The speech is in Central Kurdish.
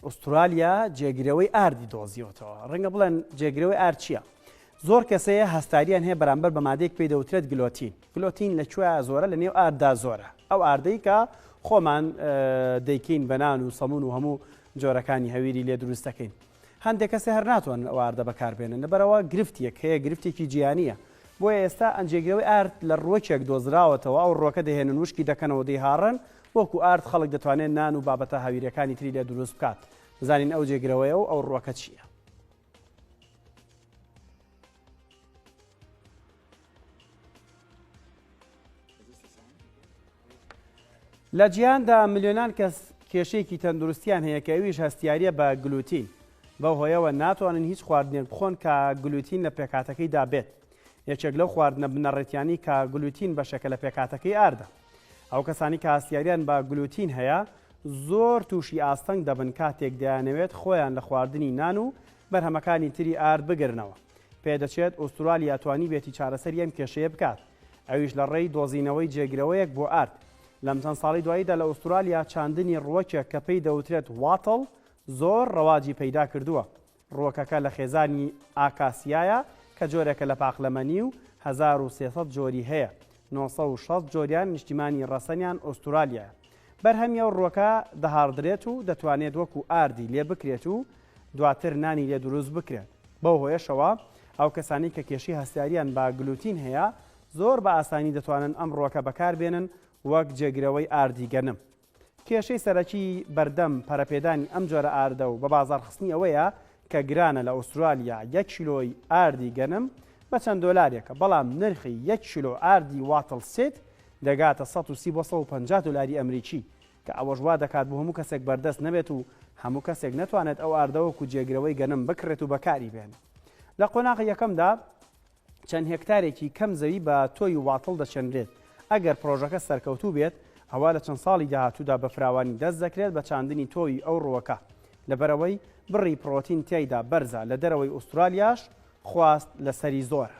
ئوسترالیا جێگرەوەی ئاردی دۆزیوەتەوە. ڕەنگە بڵێن جێگرەوەی ئارد چییە؟ زۆر کەسەیە هەستاریان هەیە بەرامبەر بە مادێک پێی دەوترێت گلۆتین. گلۆتین لە کوێ زۆرە لە نێو ئارددا زۆرە. ئەو ئاردەی کە خۆمان دەیکەین بەنان و سەمون و هەموو جۆرەکانی هەویری لێ دروستەکەین. هەندێک کەسێ هەر ناتوان ئەو ئاردە بەکاربێنن لەبەرەوە گرفتیەک هەیە گرفتێکی جیانیە. بۆیە ئێستا ئەنجێگرەوەی ئارد لە ڕوەکێک دۆزراوەتەوە ئەو ڕۆکە دەهێنن وشکی دەکەنەوە دەیهاڕن وەکو ئارد خەڵک دەتوانێت نان و بابەتە هاویرەکانی تری لێ دروست بکات بزانین ئەو جێگرەوەیە و ئەو ڕوەکە چییە. لە جیهاندا ملیۆنان کەس کێشێکی تەندروستیان هەیە کە ئەویش هەستیاریە بە گلوتین بە هۆیەوە ناتوانن هیچ خواردنێک بخۆن کە گلوتین لە پێکاتەکەی دابێت یەکێک لەو خواردنە بنەڕێتیانی کە گلوتین بەشەکە لە پێکاتەکەی ئاردە ئەو کەسانەی کە هەستیاریان بە گلوتین هەیە زۆر تووشی ئاستەنگ دەبن کاتێک دەیانەوێت خۆیان لە خواردنی نان و بەرهەمەکانی تری ئارد بگرنەوە. پێدەچێت ئوسترالیا توانیبێتی چارەسەری ئەم کێشەیە بکات، ئەویش لە ڕێی دۆزینەوەی جێگرەوەیەک بۆ ئارد. لەم چەند ساڵی دواییدا لە ئوسترالیا چاندنی ڕووەکێک کە پێی دەوترێت واتڵ زۆر ڕەواجی پەیدا کردووە، ڕووەکەکە لە خێزانی ئاکاسیایە کە جۆرێکە لە پاقلەمەنی و هەزار و سێ سەد جۆری هەیە، نۆ سەد و شەست جۆریان نیشتیمانی ڕەسەنیان ئوستورالیایە. بەرهەمی ئەو ڕووەکە دەهاڕدرێت و دەتوانێت وەکو ئاردی لێ بکرێت و دواتر نانی لێ دروست بکرێت. بەو هۆیەشەوە ئەو کەسانەی کە کێشەی هەستیاریان بە گلوتین هەیە زۆر بە ئاسانی دەتوانن ئەم ڕووەکە بەکاربێنن وەک جێگرەوەی ئاردی گەنم. کێشەی سەرەکی بەردەم پەرەپێدانی ئەم جۆرە ئاردە و بەبازاڕخستنی ئەوەیە کە گرانە، لە ئوسترالیا یەک کیلۆی ئاردی گەنم بە چەند دۆلارێکە، بەڵام نرخی یەک کیلۆ ئاردی واتڵ سیت دەگاتە سەد و سی بۆ سەد و پەنجا دۆلاری ئەمریکی، کە ئەوەش وا دەکات بۆ هەموو کەسێک بەردەست نەبێت و هەموو کەسێک نەتوانێت ئەو ئاردە وەکو جێگرەوەی گەنم بکڕێت و بەکاری بێنێت لە قۆناغی یەکەمدا. چەند هێکتارێکی کەم زەوی بە تۆوی واتڵ دەچێنرێت، ئەگەر پڕۆژەکە سەرکەوتوو بێت ئەوا لە چەند ساڵی داهاتوودا بە فراوانی دەست دەکرێت بە چاندنی تۆوی ئەو ڕووەکە لەبەرئەوەی بڕی پڕۆتین تیایدا بەرزە لە دەرەوەی ئوسترالیاش خواست لەسەری زۆرە.